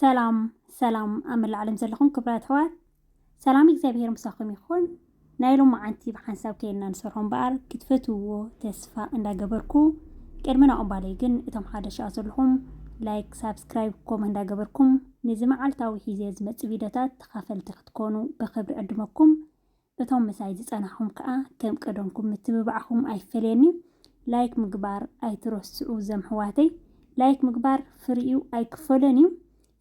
ሰላም ሰላም ኣብ መላእ ዓለም ዘለኹም ክብራት ኣሕዋት ሰላም እግዚኣብሄር ምሳኹም ይኹን። ናይ ሎሚ ዓንቲ ብሓንሳብ ከይና ንሰርሖ እምበኣር ክትፈትውዎ ተስፋ እንዳገበርኩ ቅድሚ ናኦም ባለይ ግን እቶም ሓደ ሸኣ ዘለኹም ላይክ ሳብስክራይብ ኮም እንዳገበርኩም ነዚ መዓልታዊ ሒዘ ዝመፅእ ቪድዮታት ተኻፈልቲ ክትኮኑ ብኽብሪ ዕድመኩም። እቶም ምሳይ ዝጸናሕኩም ከኣ ከም ቀደምኩም ምትብባዕኩም ኣይፈለየኒ ላይክ ምግባር ኣይትረስዑ ዘምሕዋተይ ላይክ ምግባር ፍሪኡ ኣይክፈሎን እዩ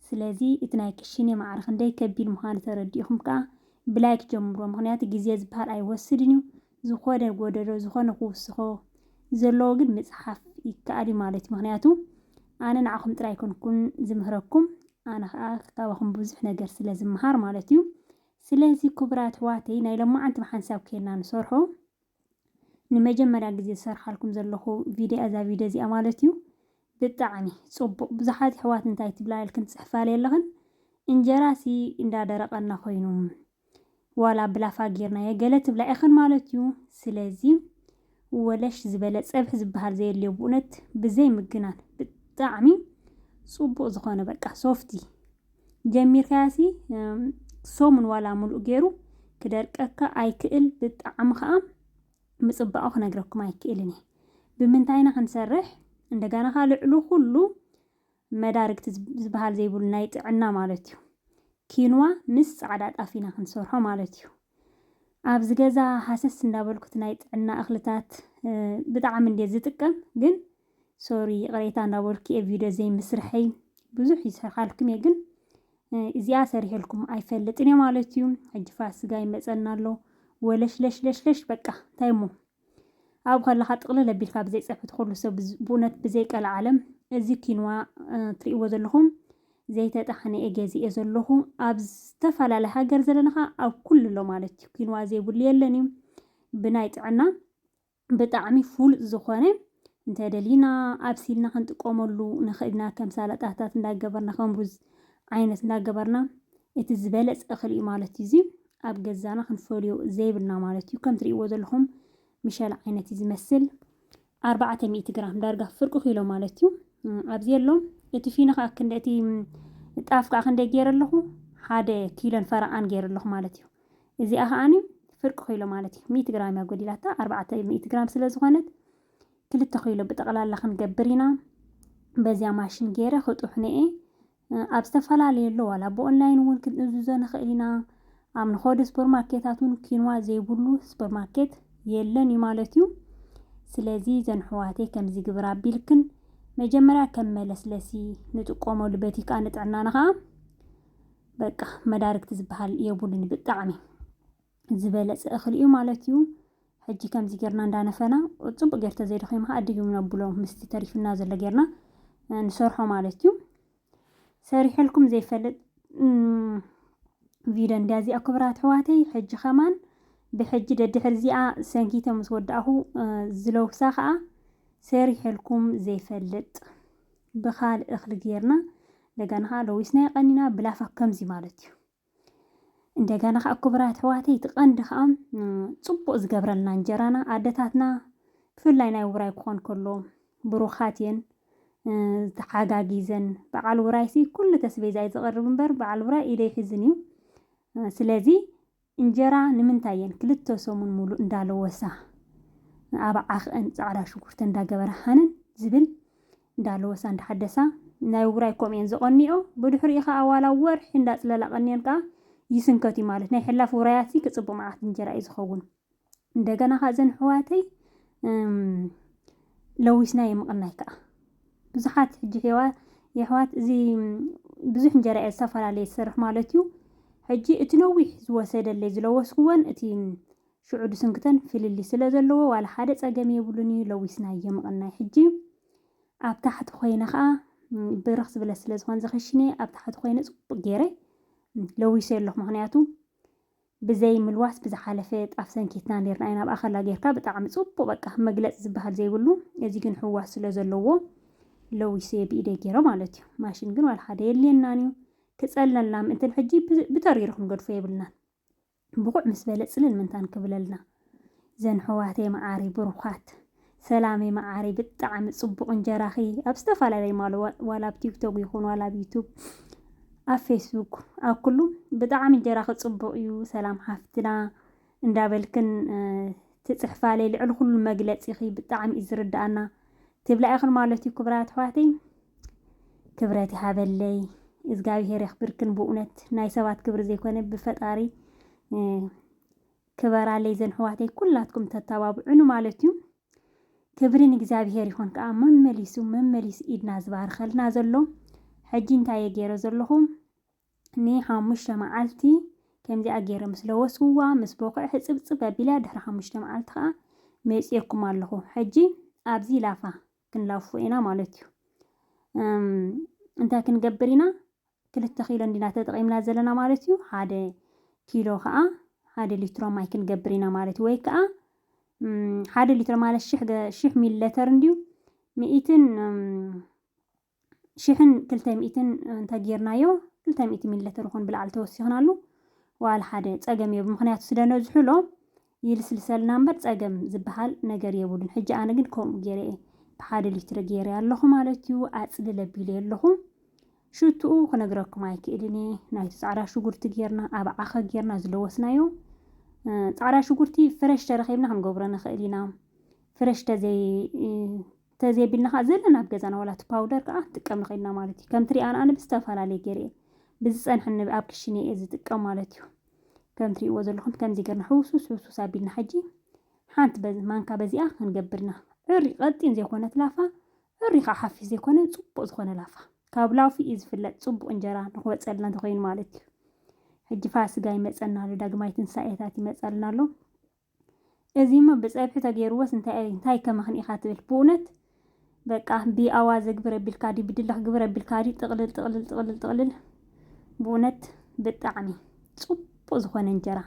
ስለዚ እቲ ናይ ክሽኔ ማዕረ ክንደይ ከቢድ ምዃኑ ተረዲእኹም ከኣ ብላይክ ጀምሮ ምኽንያቱ ግዜ ዝበሃል ኣይወስድን እዩ ዝኾነ ጎደሎ ዝኾነ ክውስኾ ዘለዎ ግን ምጽሓፍ ይከኣል እዩ ማለት እዩ ምኽንያቱ ኣነ ንዓኹም ጥራይ ኮንኩን ዝምህረኩም ኣነ ከኣ ካባኹም ብዙሕ ነገር ስለ ዝመሃር ማለት እዩ ስለዚ ክቡራት ኣሕዋተይ ናይ ሎማዓንቲ ብሓንሳብ ኬና ንሰርሖ ንመጀመርያ ግዜ ዝሰርሓልኩም ዘለኹ ቪድያ እዛ ቪድዮ እዚኣ ማለት እዩ ብጣዕሚ ጽቡቕ ብዙሓት ኣሕዋት እንታይ ትብላ ኢልክን ትጽሕፋለይ ኣለኽን እንጀራሲ እንዳደረቐና ኮይኑ ዋላ ብላፋ ጌርናዮ ገለ ትብላ ኢኽን ማለት እዩ ስለዚ ወለሽ ዝበለ ጸብሒ ዝበሃል ዘየድልዮ ብኡነት ብዘይ ምግናን ብጣዕሚ ጽቡቅ ዝኾነ በቃ ሶፍቲ ጀሚርካያሲ ሰሙን ዋላ ምሉእ ገይሩ ክደርቀካ ኣይክእል ብጣዕሚ ከኣ ምጽባቁ ክነግረኩም ኣይክእልን እየ ብምንታይና ክንሰርሕ እንደገና ከኣ ልዕሉ ኩሉ መዳርግቲ ዝብሃል ዘይብሉ ናይ ጥዕና ማለት እዩ። ኪንዋ ምስ ጻዕዳ ጣፍ ኢና ክንሰርሖ ማለት እዩ። ኣብዚ ገዛ ሃሰስ እንዳበልኩት ናይ ጥዕና እኽልታት ብጣዕሚ እንዴ ዝጥቀም ግን ሶሪ ይቕሬታ እንዳበልኩ እየ ቪድዮ ዘይምስርሐይ ብዙሕ ይሰርሓልኩም እየ ግን እዚኣ ሰሪሐልኩም ኣይፈልጥን እየ ማለት እዩ። ሕጂ ፋስጋ ይመጸና ኣሎ ወለሽለሽለሽለሽ በቃ እንታይ እሞ ኣብኡ ከለኻ ጥቕልል ኣቢልካ ብዘይ ፀብሒ ትኹሉ ሰብ ብኡነት ብዘይ ቀለዓለም እዚ ኪንዋ ትሪእዎ ዘለኹም ዘይተጣሕነ እየ ገዚኤ ዘለኹ ኣብ ዝተፈላለየ ሃገር ዘለና ኸዓ ኣብ ኩሉ ኣሎ ማለት እዩ ኪንዋ ዘይብሉ የለን እዩ ብናይ ጥዕና ብጣዕሚ ፍሉጥ ዝኾነ እንተደሊና ኣብሲልና ክንጥቀመሉ ንኽእል ኢና ከም ሳላጣታት እንዳገበርና ከም ሩዝ ዓይነት እንዳገበርና እቲ ዝበለፀ እኽሊ እዩ ማለት እዩ እዚ ኣብ ገዛና ክንፈልዮ ዘይብልና ማለት እዩ። ከም ትርእይዎ ዘለኹም ምሸላ ዓይነት እዩ ዝመስል ኣርባዕተ ሚእቲ ግራም ዳርጋ ፍርቂ ኪሎ ማለት እዩ ኣብዚ ኣሎ እቲ ፊኖ ከዓ ክንደ እቲ ጣፍ ከዓ ክንደይ ገይረ ኣለኹ ሓደ ኪሎን ፈረቓን ገይረ ኣለኹ ማለት እዩ እዚኣ ከዓኒ ፍርቂ ኪሎ ማለት እዩ ሚእቲ ግራም እያ ጎዲላታ ኣርባዕተ ሚእቲ ግራም ስለ ዝኾነት ክልተ ኪሎ ብጠቕላላ ክንገብር ኢና በዚያ ማሽን ገይረ ክጡሕነ እየ ኣብ ዝተፈላለዩ ኣሎ ዋላ ብኦንላይን እውን ክንእዝዞ ንኽእል ኢና። ኣብ ንኾዶ ስፖርማርኬታት እውን ኪንዋ ዘይብሉ ስፖርማርኬት የለን እዩ ማለት እዩ። ስለዚ እዘን ኣሕዋተይ ከምዚ ይግብር ኣቢልክን መጀመርያ ከም መለስለሲ ንጥቀመሉ በቲ ከዓ ንጥዕናና ከዓ በቃ መዳርግቲ ዝበሃል የብሉን ብጣዕሚ ዝበለጸ እኽሊ እዩ ማለት እዩ። ሕጂ ከምዚ ጌርና እንዳነፈና ጽቡቅ ጌር ተዘይደኺሙ ከኣ ድግም ነብሎ ምስቲ ተሪፉና ዘሎ ጌርና ንሰርሖ ማለት እዩ። ሰሪሐልኩም ዘይፈልጥ ቪድዮ እንድያ እዚኣ ክብራት ኣሕዋተይ ሕጂ ከማን ብሕጂ ደድሕር እዚኣ ሰንኪተ ምስ ወዳእኹ ዝለውሳ ከዓ ሰሪሐልኩም ዘይፈልጥ ብካልእ እኽሊ ጌርና እንደገና ከዓ ለዊስና የቀኒና ብላፋ ከምዚ ማለት እዩ እንደገና ከዓ ክቡራት ኣሕዋተይ እቲ ቀንዲ ከዓ ፅቡቅ ዝገብረልና እንጀራና ኣደታትና ብፍላይ ናይ ውራይ ክኾን ከሎ ብሩኻት እየን ተሓጋጊዘን በዓል ውራይሲ ኩሉ ተስቤዛ እዩ ዝቐርብ እምበር በዓል ውራይ ኢደ ይሕዝን እዩ ስለዚ እንጀራ ንምንታይ እየን ክልተ ሰሙን ሙሉእ እንዳለወሳ ኣብ ዓኽአን ፃዕዳ ሽጉርቲ እንዳገበርሓንን ዝብል እንዳለወሳ እንዳሓደሳ ናይ ውራይ ከምኡ እየን ዝቐንይኦ ብድሕሪኡ ከኣ ዋላ ወርሒ እንዳጽለላ ቀንየን ከኣ ይስንከት እዩ ማለት ናይ ሕላፍ ውራያት ሲ ክጽብቕ መዓት እንጀራ እዩ ዝኸውን እንደገና ከኣ እዘን ኣሕዋተይ ለዊስና የምቕናይ ከኣ ብዙሓት ሕጂ ሔዋ የሕዋት እዚ ብዙሕ እንጀራ እየ ዝተፈላለየ ዝሰርሕ ማለት እዩ ሕጂ እቲ ነዊሕ ዝወሰደለይ ዝለወስክወን እቲ ሽዑ ድስንክተን ፍልልይ ስለ ዘለዎ ዋላ ሓደ ጸገም የብሉን ኢዩ ለዊስናዮ ምቕናይ ሕጂ ኣብ ታሕቲ ኮይነ ከኣ ብርኽ ዝብለ ስለ ዝኾን ዝኽሽነየ ኣብ ታሕቲ ኮይነ ጽቡቕ ጌረ ለዊሰዮ ኣለኹ ምኽንያቱ ብዘይ ምልዋስ ብዝሓለፈ ጣፍ ሰንኪትና ኔርና ኢና ኣብኣ ከላ ጌርካ ብጣዕሚ ጽቡቕ በቃ መግለጺ ዝበሃል ዘይብሉ እዚ ግን ሕዋስ ስለ ዘለዎ ለዊሰዮ ብኢደይ ጌረ ማለት እዩ ማሽን ግን ዋላ ሓደ የድልየናን እዩ ክጸልለና ምእንትን ሕጂ ብተሪሩ ክንገድፎ የብልናን ብኩዕ ምስ በለ ጽልል ምንታን ክብለልና ዘንሕዋተይ መዓረይ ብሩካት። ሰላመይ መዓረይ ብጣዓሚ ጽቡቅ እንጀራኪ ኣብ ዝተፋላለይ ማል ዋላ ኣብ ቲክቶክ ይኩን ዋላ ኣብ ዩቱብ ኣብ ፌስቡክ ኣብ ኩሉ ብጣዓሚ እንጀራኪ ጽቡቅ እዩ ሰላም ሓፍትና እንዳበልክን ትጽሕፋለይ ልዕሊ ኩሉ መግለጺኪ ብጣዓሚ እዩ ዝርዳኣና ትብላ ኢኽን ማለት እዩ ክብራ ኣሕዋተይ ክብረት ይሃበለይ እግዚኣብሄር የኽብርክን ብእውነት ናይ ሰባት ክብሪ ዘይኮነ ብፈጣሪ ክበራለይ ዘንሕዋተይ ኩላትኩም ተተባብዑኒ ማለት እዩ ክብሪ ንእግዚኣብሄር ይኹን ከዓ መመሊሱ መመሊሱ ኢድና ዝባርኸልና ዘሎ ሕጂ እንታይ እየ ገይረ ዘለኹ ንሓሙሽተ መዓልቲ ከምዚኣ ገይረ ምስ ለወስዋ ምስ ቦኽዐ ህጽብጽብ ኣቢላ ድሕሪ ሓሙሽተ መዓልቲ ከኣ መጺኤኩም ኣለኹ ሕጂ ኣብዚ ላፋ ክንላፉ ኢና ማለት እዩ እንታይ ክንገብር ኢና ክልተ ኪሎ እንዲና ተጠቒምና ዘለና ማለት እዩ ሓደ ኪሎ ከዓ ሓደ ሊትሮ ማይ ክንገብር ኢና ማለት እዩ ወይ ከዓ ሓደ ሊትሮ ማለት ሽሕ ሚሊ ሊተር እንዲዩ ሚእትን ሽሕን ክልተ ሚእትን እንተ ጌርናዮ ክልተ ሚእቲ ሚሊሊትር ይኹን ብላዕሊ ተወሲኽናሉ ዋላ ሓደ ጸገም የብሉ ምኽንያቱ ስለ ነዝሕሎ ይልስልሰልና እምበር ጸገም ዝበሃል ነገር የብሉን ሕጂ ኣነ ግን ከምኡ ጌረ እየ ብሓደ ሊትሪ ጌረ ኣለኹ ማለት እዩ ኣጽልል ኣቢለ ኣለኹ ሽትኡ ክነግረኩም ኣይክእልን እየ ናይቲ ጻዕዳ ሽጉርቲ ጌርና ኣብ ዓኸ ጌርና ዝለወስናዮ ጻዕዳ ሽጉርቲ ፍረሽ ተረኺብና ክንገብሮ ንኽእል ኢና ፍረሽ ተዘይ ተዘየቢልና ከኣ ዘለና ኣብ ገዛና ዋላ እቲ ፓውደር ከኣ ንጥቀም ንክእል ኢና ማለት እዩ። ከምቲ ሪኣና ኣነ ብዝተፈላለየ ገይረ እየ ብዝጸንሐኒ እብ ኣብ ክሽነይ እየ ዝጥቀም ማለት እዩ። ከም ትሪእዎ ዘለኹም ከምዚ ገርና ሕውስውስ ሕውስውስ ኣቢልና ሕጂ ሓንቲ በዚ ማንካ በዚኣ ክንገብር ኢና። ዕርይ ቀጢን ዘይኮነት ላፋ ዕርይ ከኣ ሓፊስ ዘይኮነ ጽቡቅ ዝኾነ ላፋ ካብ ላፉ እዩ ዝፍለጥ ጽቡቅ እንጀራ ንክወጸልና እንተኮይኑ ማለት እዩ። ሕጂ ፋስጋ ይመጸና ኣሎ ዳግማይ ትንሳኤታት ይመጻልና ኣሎ። እዚሞ ብጸብሒ ተጌርዎስ እንታይ ታይከ ምኽኒ ኢኻ ትብል ብኡነት በቃ ብኣዋዘ ግብር ኣቢልካ ድዩ ብድለኽ ግብር ኣቢልካ ድዩ ጥቕልል ጥቕልል ጥቕልል ጥቕልል ብኡነት ብጣዕሚ ጽቡቕ ጽቡቅ ዝኾነ እንጀራ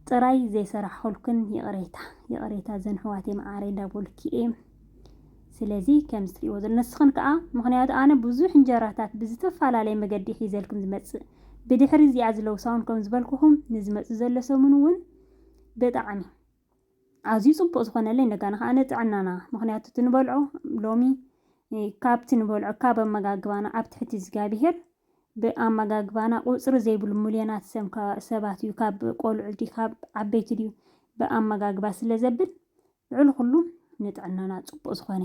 ጥራይ ዘይሰራሕኹልክን ይቕሬታ ይቕሬታ ዘንሕዋተይ መዓረይ እንዳበልኩ እየ ስለዚ ከምዚ ትርእይዎ ዘለ ንስኽን ከኣ ምኽንያቱ ኣነ ብዙሕ እንጀራታት ብዝተፋላለየ መገዲ ሒዘልኩም ዝመጽእ ብድሕሪ እዚኣ ዝለውሳውን ከም ዝበልኩኹም ንዝመጽእ ዘሎ ሰሙን ውን ብጣዕሚ ኣዝዩ ጽቡቕ ዝኾነለይ እንደጋና ከኣ ንጥዕናና ምኽንያቱ እቲ ንበልዖ ሎሚ ካብቲ ንበልዖ ካብ ኣመጋግባና ኣብ ትሕቲ እዝጋቢሄር ብኣመጋግባና ቁጽሪ ዘይብሉ ሙልዮናት ሰብ ሰባት እዩ ካብ ቆልዑ ድዩ ካብ ዓበይቲ ድዩ ብኣመጋግባ ስለ ዘብል ልዕሊ ኩሉ ንጥዕናና ጽቡቅ ዝኮነ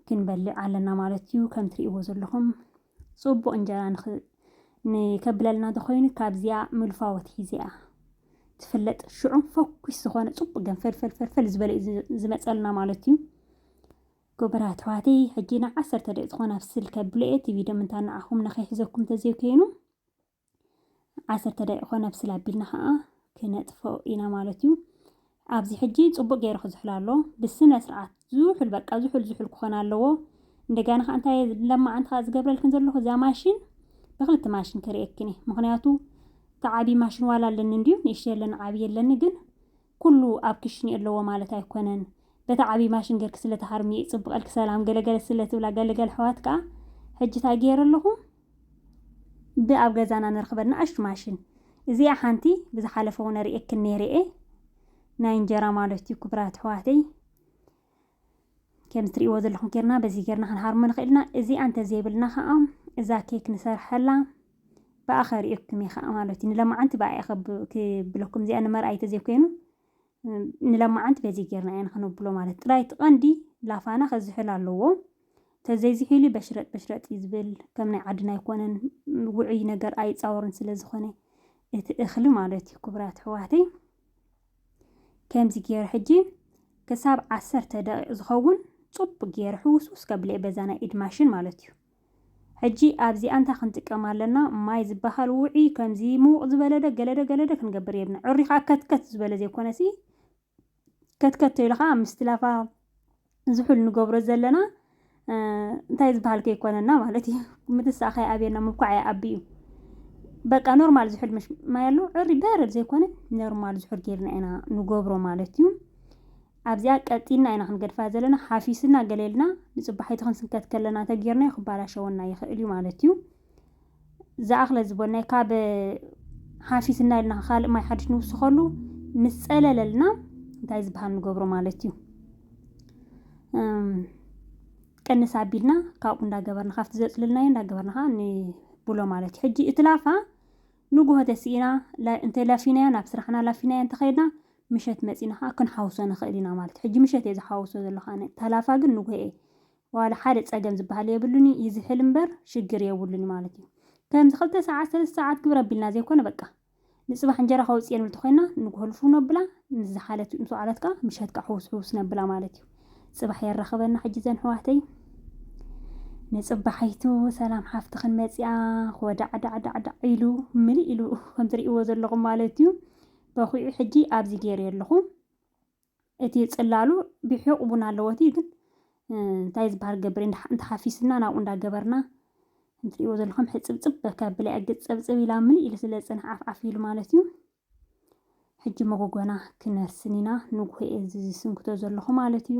ክንበልዕ ኣለና ማለት እዩ ከም ትርእይዎ ዘለኹም ጽቡቅ እንጀራ ንክ ንከብለልና ተኮይኑ ካብዚኣ ምልፋ ወትሒዚኣ ትፍለጥ ሽዑ ፈኩስ ዝኾነ ጽቡቅ ገንፈል ፈልፈልፈል ዝበለ እዩ ዝመጸልና ማለት እዩ ጎበራት ኣሕዋተይ ሕጂ ን ዓሰርተ ደቂቅ ዝኾና ኣብ ስልከ ብሎኤ ቲቪ ደምንታ ንዓኹም ንከይሕዘኩም ተዘይኮይኑ ዓሰርተ ደቂቆ ነብስል ኣቢልና ከዓ ክነጥፎ ኢና ማለት እዩ ኣብዚ ሕጂ ፅቡቅ ገይሩ ክዝሕል ኣሎ ብስነ ስርዓት ዝሑል በቃ ዝሑል ዝሑል ክኾን ኣለዎ እንደገና ከዓ እንታይ ለማዓንቲ ከዓ ዝገብረልክን ዘለኹ እዛ ማሽን ብክልቲ ማሽን ክርእየክን ምክንያቱ ተዓቢ ማሽን ዋላ ኣለኒ እንድዩ ንእሽ የለን ዓብይ የለኒ ግን ኩሉ ኣብ ክሽኒ ኣለዎ ማለት ኣይኮነን በታ ዓብይ ማሽን ገርኪ ስለ ትሃርምዮ እዩ ፅብቀልኪ ሰላም ገለ ገለ ስለ ትብላ ገለ ገለ ኣሕዋት ከኣ ሕጂ ታይ ገይረ ኣለኹ ብ ኣብ ገዛና ንረኽበን ንኣሽቱ ማሽን እዚኣ ሓንቲ ብዝሓለፈ እውን ኣርእየክን ነይረ እየ ናይ እንጀራ ማለት እዩ ክብራት ኣሕዋተይ ከምዚ ትርእይዎ ዘለኹም ጌርና በዚ ጌርና ክንሃርሞ ንኽእል ኢና እዚ ኣንተዘይብልና ከዓ እዛ ኬክ ንሰርሐላ ብኣ ከርእየኩም እየ ከዓ ማለት እዩ ንለማዓንቲ ብኣ እየ ክብለኩም እዚኣ ንመርኣይ ተዘይኮይኑ ንለማዓንቲ በዚ ጌርና እያን ክንብሎ ማለት ጥራይ እቲ ቀንዲ ላፋና ከዝሕል ኣለዎ ተዘይዝሒሉ በሽረጥ በሽረጥ እዩ ዝብል ከም ናይ ዓድና ኣይኮነን ውዑይ ነገር ኣይፃወርን ስለ ዝኾነ እቲ እኽሊ ማለት እዩ ክቡራት ኣሕዋተይ ከምዚ ጌረ ሕጂ ክሳብ ዓሰርተ ደቂቕ ዝኸውን ጽቡቅ ጌረ ሕውስውስ ከብል'የ በዛ ናይ ኢድ ማሽን ማለት እዩ። ሕጂ ኣብዚኣ እንታይ ክንጥቀም ኣለና ማይ ዝበሃል ውዑይ ከምዚ ምዉቕ ዝበለ ዶ ገለ ዶ ገለ ዶ ክንገብር የብና ዕርዩ ከኣ ከትከት ዝበለ ዘይኮነሲ ከትከት ተይሉ ከኣ ምስቲ ላፋ ዝሑል ንገብሮ ዘለና እንታይ ዝበሃል ከይኮነና ማለት እዩ ምትሳእ ከይኣብየና ምብኳዕ ይኣቢ እዩ በቃ ኖርማል ዝሑል ምሽ ማይ ኣሎ ዕሪ በረድ ዘይኮነ ኖርማል ዝሑል ጌርና ኢና ንገብሮ ማለት እዩ ኣብዚኣ ቀጢና ኢና ክንገድፋ ዘለና ሓፊስና ገሌልና ንፅባሒቲ ክንስንከት ከለና ተጌርናዮ ክባላሸወና ይኽእል እዩ ማለት እዩ ዝኣኽለ ዝበልናይ ካብ ሃሲስና ኢልና ካልእ ማይ ሓድሽ ንውስኸሉ ምስ ጸለለልና እንታይ ዝበሃል ንገብሮ ማለት እዩ ቅንስ ኣቢልና ካብኡ እንዳገበርና ካብቲ ዘፅልልናዮ እንዳገበርና ከዓ ንብሎ ማለት እዩ ሕጂ እቲ ላፋ ንጉሆ ተስኢና እንተ ላፊናያ ናብ ስራሕና ላፊናያ እንተኸይድና ምሸት መፂና ከዓ ክንሓውሶ ንኽእል ኢና ማለት እዩ ሕጂ ምሸት እየ ዝሓውሶ ዘለኹ ኣነ ተላፋ ግን ንጉሆ እየ ዋላ ሓደ ጸገም ዝበሃል የብሉን እዩ ይዝሕል እምበር ሽግር የብሉን እዩ ማለት እዩ ከምዚ ክልተ ሰዓት ሰለስተ ሰዓት ግብሪ ኣቢልና ዘይኮነ በቃ ንጽባሕ እንጀራ ከውጽየን እንተኮይና ንግሆ ልፍው ነብላ ምስ ዝሓለት ምስ ወዓለት ከኣ ምሸት ከኣ ሕውስ ሕውስ ነብላ ማለት እዩ ጽባሕ የራኽበና ሕጂ ዘን ሕዋተይ ንጽባሒቱ ሰላም ሓፍትኽን መጽኣ ኾዳዕዳዕዳዕዳዕ ኢሉ ምልእ ኢሉ ከምትርእይዎ ዘለኹም ማለት እዩ በኺዑ ሕጂ ኣብዚ ገይረዮ ኣለኹ እቲ ጽላሉ ቢሑቕ ቡን ኣለዎ እቲ ግን እንታይ ዝበሃል ገብር እንተሓፊስና ናብኡ እንዳገበርና እንትሪእዎ ዘለኹም ሕጽብጽብ በካ ብላይ ኣግጽ ጸብጽብ ኢላ ምልእ ኢሉ ስለ ዝጸንሕ ዓፍዓፍ ኢሉ ማለት እዩ ሕጂ መጎጎና ክነርስን ኢና ንጉሆ እዚ ዝስንክቶ ዘለኹ ማለት እዩ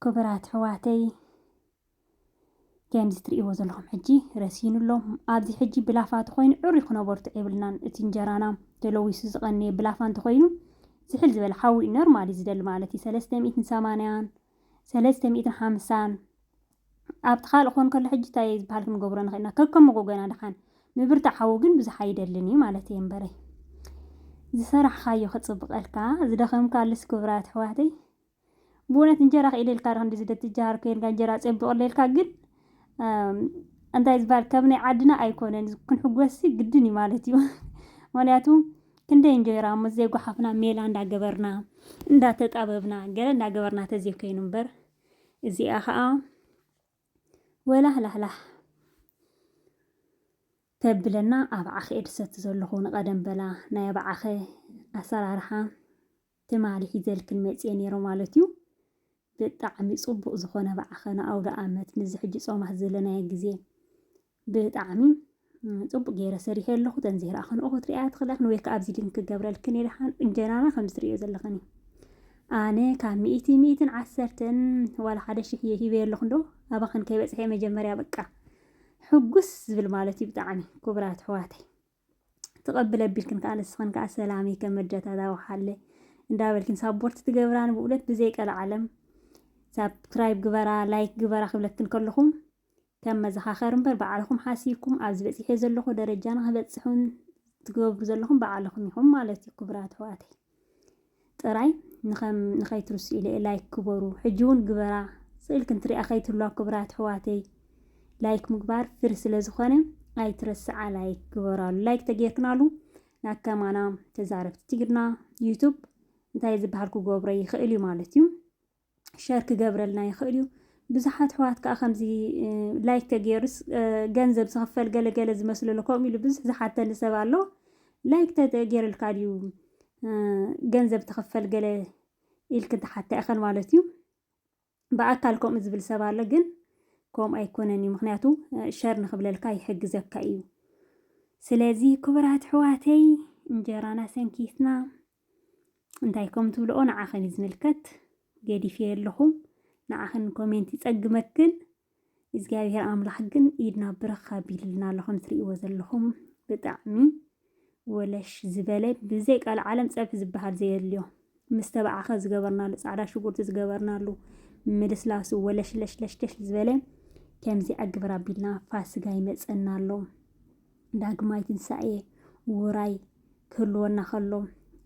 ክብራት ሕዋተይ ከምዚ ትርእይዎ ዘለኹም ሕጂ ረሲኑ ኣሎ። ኣብዚ ሕጂ ብላፋ ተኾይኑ ዕሩይ ክነበርቶ የብልናን። እቲ እንጀራና ተለዊሱ ዝቐነየ ብላፋ እንተኾይኑ ዝሕል ዝበለ ሓዊ እዩ ኖርማሊ ዝደሊ ማለት እዩ። ሰለስተ ሚእትን ሰማንያን ሰለስተ ሚእትን ሓምሳን ኣብቲ ካልእ ክኾን ከሎ ሕጂ እንታይ ዝበሃል ክንገብሮ ንኽእል ኢና ከከም መጎጎና ድሓን ምብርታዕ ሓዊ ግን ብዙሕ ኣይደልን እዩ ማለት እየ እምበረይ ዝሰራሕኻዮ ክጽብቐልካ ዝደኸምካሉስ ክብራት ኣሕዋተይ ብእውነት እንጀራ ክኢለ ኢልካ ዶ ክንድዚ ትጀሃር ኮይንካ እንጀራ ጸቢቑለ ኢልካ ግን እንታይ ዝበሃል ከም ናይ ዓድና ኣይኮነን ክንሕጎስሲ ግድን እዩ ማለት እዩ ምክንያቱ ክንደይ እንጀራ ምስ ዘይጓሓፍና ሜላ እንዳገበርና እንዳተጣበብና ገለ እንዳገበርና ተዘይኮይኑ እምበር እዚኣ ከዓ ወላህላህላህ ተብለና ኣብ ዓኸ እየ ድሰቲ ዘለኹ ንቐደም በላ ናይ ኣብ ዓኸ ኣሰራርሓ ትማሊ ሒዘልክን መጽየ ኔረ ማለት ዩ። ብጣዕሚ ጽቡቅ ዝኮነ ባዓኸ ንኣውደኣመት ምስዚ ሕጂ ጾማት ዘለናዮ ግዜ ብጣዕሚ ጽቡቅ ጌረ ሰሪሐዮ ኣለኹ ተንዝሄ ረኣ ከንኦ ክትርእያ ትኽእለኽን ወይ ከኣ ቪድን ክገብረልክን እየ ደሓን እንጀራና ከምዚ ትርእዮ ዘለኽን እዩ ኣነ ካብ ሚእቲ ሚእትን ዓሰርተን ዋላ ሓደ ሽሕ እየ ሂበዮ ኣለኹ እንዶ ኣባኽን ከይበጽሐ መጀመርያ በቃ ሕጉስ ዝብል ማለት እዩ ብጣዕሚ ክቡራት ኣሕዋተይ ትቐብል ኣቢልክን ከኣ ንስኽን ከኣ ሰላምይ ከም መድያታት ኣውሓለይ እንዳበልክን ሳቦርት ትገብራኒ ብኡለት ብዘይ ቀልዓለም ሳብክራይብ ግበራ ላይክ ግበራ ክብለክን ከለኹም ከም መዘኻኸር እምበር በዓልኹም ሓሲብኩም ኣብዚ በጺሐ ዘለኹ ደረጃና ክበጽሑን ትገብሩ ዘለኹም በዓልኹም ኢኹም ማለት እዩ ክብራት ኣሕዋተይ ጥራይ ንከም ንከይትርስኡ ኢለ ላይክ ግበሩ ሕጂ ውን ግበራ ስእል ክንትሪኣ ከይትህልዋ ክብራት ኣሕዋተይ ላይክ ምግባር ፍሪ ስለ ዝኮነ ኣይትረስዓ ላይክ ግበራሉ ላይክ ተጌርክናሉ ናብ ከማና ተዛረብቲ ትግርና ዩቱብ እንታይ ዝብሃል ክገብሮ ይክእል ዩ ማለት ዩ። ሸር ክገብረልና ይኽእል እዩ። ብዙሓት ኣሕዋት ከዓ ከምዚ ላይክ ተገይሩስ ገንዘብ ዝኽፈል ገለ ገለ ዝመስሎ ኣሎ ከምኡ ኢሉ ብዙሕ ዝሓተኒ ሰብ ኣሎ ላይክ ተገይርልካ ድዩ ገንዘብ ትኽፈል ገለ ኢልክ ትሓታ ኢኸን ማለት እዩ ብኣካል ከምኡ ዝብል ሰብ ኣሎ ግን ከምኡ ኣይኮነን እዩ ምክንያቱ ሸር ንክብለልካ ይሕግዘካ እዩ ስለዚ ክቡራት ኣሕዋተይ እንጀራና ሰንኪትና እንታይ ከም ትብልኦ ንዓኽን እዩ ዝምልከት ገዲፍየ ኣለኹ ንዓኽን ኮሜንት ይጸግመክን እግዚኣብሔር ኣምላኽ ግን ኢድና ብርኽ ኣቢልልና ኣሎ ከም ትርእይዎ ዘለኹም ብጣዕሚ ወለሽ ዝበለ ብዘይ ቃል ዓለም ጸብሒ ዝበሃል ዘየድልዮ ምስ ተባዕኸ ዝገበርናሉ ጻዕዳ ሽጉርቲ ዝገበርናሉ ምልስላሱ ወለሽለሽለሽለሽ ዝበለ ከምዚ ኣግብር ኣቢልና ፋስጋ ይመጸና ኣሎ ዳግማይ ትንሳኤ ውራይ ክህልወና ከሎ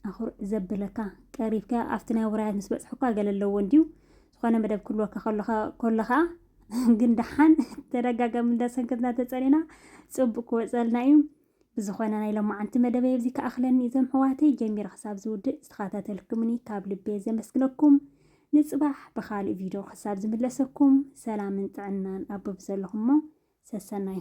ኣኹርዕ ዘብለካ ቀሪብካ ኣብቲ ናይ ውራያት ምስ በጽሕኳ ገለ ኣለዎ እንድዩ ዝኾነ መደብ ክህልወካ ከሎ ከኣ ግን ደሓን ተደጋጋሚ እንዳሰንከትና ተጸኒና ጽቡቅ ክወጸልና እዩ ብዝኾነ ናይ ሎማዓንቲ መደበይ ኣብዚ ክኣኽለኒ እዞም ሕዋተይ ጀሚረ ክሳብ ዝውድእ ዝተኸታተልኩምኒ ካብ ልቤ ዘመስግነኩም ንጽባሕ ብኻልእ ቪድዮ ክሳብ ዝምለሰኩም ሰላምን ጥዕናን ኣብ ዘለኹሞ ሰሰናዩ